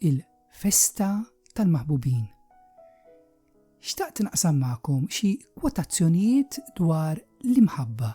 il-festa tal-maħbubin. Xtaqt naqsam magħkom xi kwotazzjonijiet dwar l-imħabba.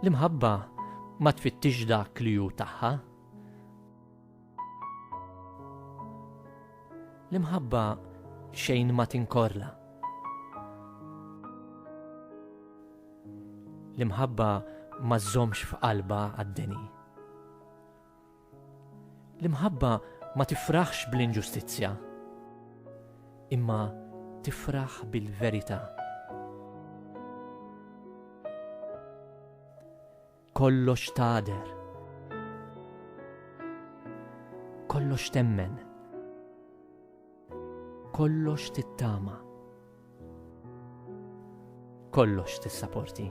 L-imħabba ma tfittixx dak li hu tagħha. L-imħabba xejn ma tinkorla. L-imħabba ma żżommx f'qalbha għad-deni. L-imħabba ma tifraħx bl-inġustizzja, imma tifraħ bil-verità. Kollox tagħder. Kollox temmen. Kollox tittama. Kollox tissaporti.